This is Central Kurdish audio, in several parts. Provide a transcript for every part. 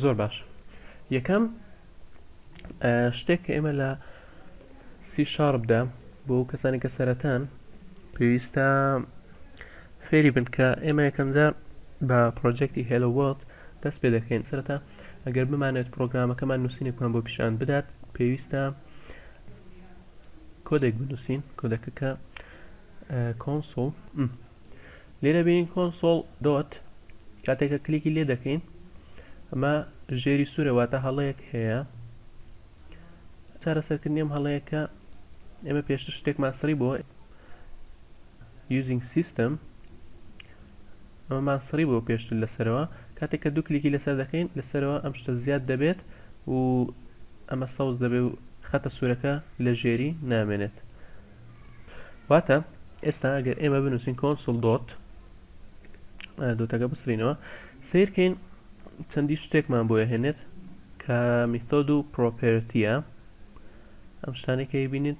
زۆر باش یەکەم شتێک کە ئێمە لە سی شاربدا بۆ کەسانی کە سەرەتان پێویستە فێری بن کە ئێمە یەکەمجار بە پرۆژێکتی هێلووەڵ دەست پێ دەکەین سەرەتا ئەگەر بمانەوێت پرۆگرامەکەمان نووسینێکمان بۆ پیشان بدات پێویستە کۆدێک بنووسین کۆدەکە کە کۆنسۆڵ لێرە بینین کۆنسۆڵ دۆت کاتێکە کلیکی لێ دەکەین ئەمە ژێری سوورەواتە هەڵەیەک هەیە چارەسەرکردنیم هەڵەیەکە ئێمە پێشتر شتێکمان سڕی بۆ using system ئەمەمان سڕی بوە پێشتر لە سەرەوە کاتێک کە دوو کلیکی لەسەر دەکەین لە سەرەوە ئەم شتە زیاد دەبێت و ئەمە سەوز دەبێ و خەتە سورەکە لە ژێری نامێنێت واتە ئێستا گەر ئێمە بنووسین کۆنسل دۆت دۆتەکە بسرینەوە سیرکەین چەندی شتێکمان بۆ هێنێت کە میتۆد و پرۆپێرتیە ئەم شتانێکی بینیت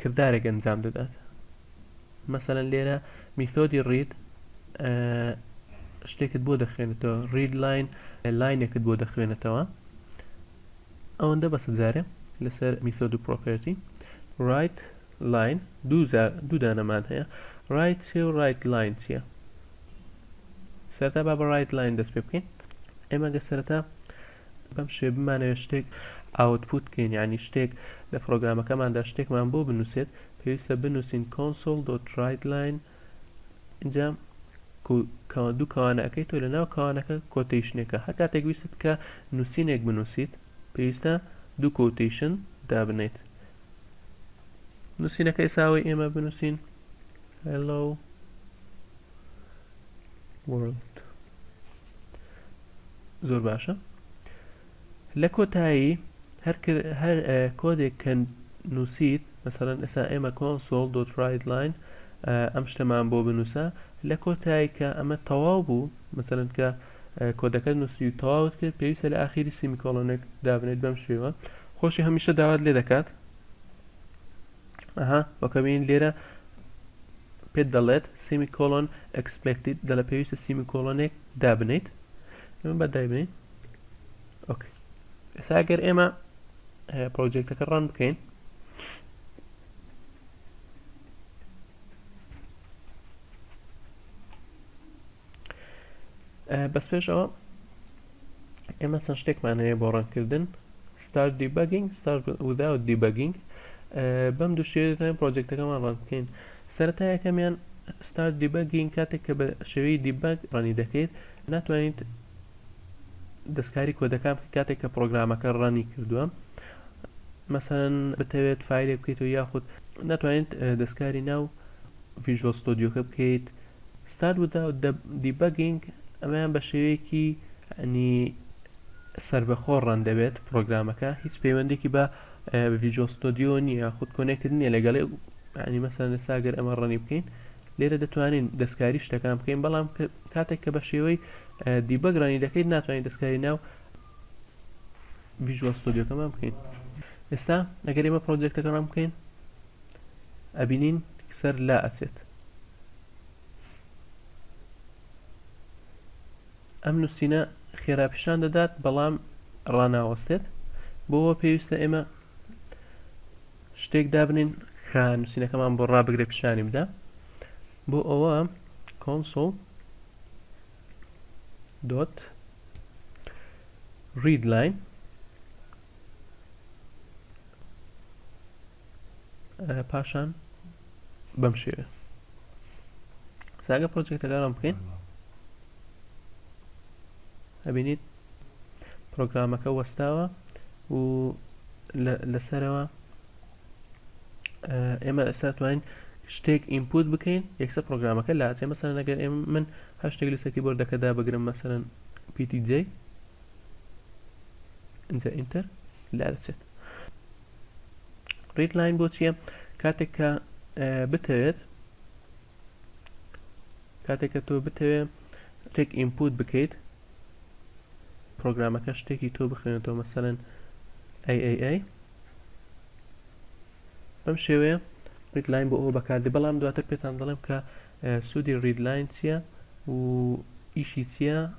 کردارێک ئەنجام دەدات مەسەلەن لێرە میثۆدی ڕید شتێکت بۆ دەخوێنێتەوە ڕید لاین لاینێکت بۆ دەخوێنێتەوە ئەوەندە بەسە جارێ لەسەر میثۆد و پرۆپەرتی ڕایت لاین دوو دانەمان هەیە ڕایت چێ و ڕایت لاین چییە سەرتا با بە ڕایت لاین دەست پێ بکەین ئێمە گە سەرەتا بەم شێوەیە بمانەوێت شتێک ئاوتپوت بکەین یانی شتێک لە پڕۆگرامەکەماندا شتێکمان بۆ بنوسێت پێویستە بنوسین کۆنسۆڵ دۆت ڕایت لاین ئینجا کەوا دوو کەوانە ئەەکەی تۆ لە ناو کەوانەکە کۆتیشنێکە هەر کاتێک ویستت کە نووسینێک بنووسیت پێویستە دوو کۆتیشن دابنیت نووسینەکە ئێساوەی ئێمە بنووسین Hello World زۆر باشە لە کۆتایی هەر هەر کۆدێک کە نووسیت مەسەرەن ئێسا ئێمە کۆنسۆل دۆت ڕایدلاین ئەم شتەمان بۆ بنووسە لە کۆتایی کە ئەمە تەواو بوو مەسەرن کە کۆدەکە نووسی و تەواوت کرد پێویستە لە ئاخیری سیمیکۆڵۆنێک دابنێت بەم شێوە خۆشی هەمیشە داوات لێ دەکات ئەها وەکە بینین لێرە پێت دەڵێت سیمی کۆلۆن ئەکسپێکتیت دەلە پێویستە سیمی کۆلۆنێک دابنیت ئێمە بە دایبنین ئۆکەی ئێستا گەر ئێمە پرۆژێکتەکە ڕان بکەین بەس پێشەوە ئێمە چەند شتێکمان هەیە بۆ ڕەنکردن ستارت دیبەگینگ ستارت وذاوت دیبەگینگ بەم دوو شێوەیە دەتوانین پرۆجێکتەکەمان ڕەنگ بکەین سەرەتا یەکەمیان ستارت دیبەگینگ کاتێک کە بە شێوەی دیبەگ ڕەنی دەکەیت ناتوانیت دەستکاری کۆدەکان بکە کاتێک کە پرۆگرامەکە ڕەنی کردووە مەسەن بتەوێت فیلێک بکەیتەوە یاخود ناتوانیت دەستکاری ناو ڤژۆ ستۆدیۆکە بکەیت Start without debugging ئەمەیان بە شێوەیەکی ئەنی سربەخۆ ڕەن دەبێت پرۆگرامەکە هیچ پەیوەندێکی بە ڤیجۆ ستۆدیۆ نییە خود کۆنێکت نییە لەگەڵێ ینی مەسەن لە ساگەر ئەمە ڕەنی بکەین لێرە دەتوانین دەستکاری شتەکان بکەین بەڵام کاتێک کە بە شێوەی دیبەگرانی دەکەیت ناتوانین دەستکاری ناو ڤیژوە ستۆدیۆکەمان بکەین ئێستا ئەگەر ئێمە پرۆجێکتەکە ڕام بکەین ئەبینین سەر لا ئەچێت ئەم نووسینە خێرا پیشان دەدات بەڵام ڕناوەستێت بۆەوە پێویستە ئێمە شتێک دابنین کە نووسینەکەمان بۆ ڕابگرێ پیشانی بدا بۆ ئەوە کۆنسۆڵ دۆت ریدلاین پاشان بەم شێوێ ساگە پرۆجێکتەکانم بکەین ئەبینیت پرۆگرامەکە وەستاوە و لەسەرەوە ئێمە ئەسا توانین شتێک ئینپوت بکەین یەکسە پرۆگرامەکە لا چێ مەسەر نەگەر ئێ من هەر شتێک لە سەکی بردەکەدا بگرم مەسەرەن پیتی جێ اینجا ئینتەر لا دەچێت ڕید لاین بۆ چییە کاتێک کە بتەوێت کاتێک کە تۆ بتەوێت تێک ئینپوت بکەیت پرۆگرامەکە شتێکی تۆ بخوێنێتەوە مەسەن ئەی بەم شێوەیە ریدلاین بۆ ئەوە بەکاردی بەڵام دواتر پێتان دەڵێم کە سوودی ریدلاین چییە و ئیشی چییە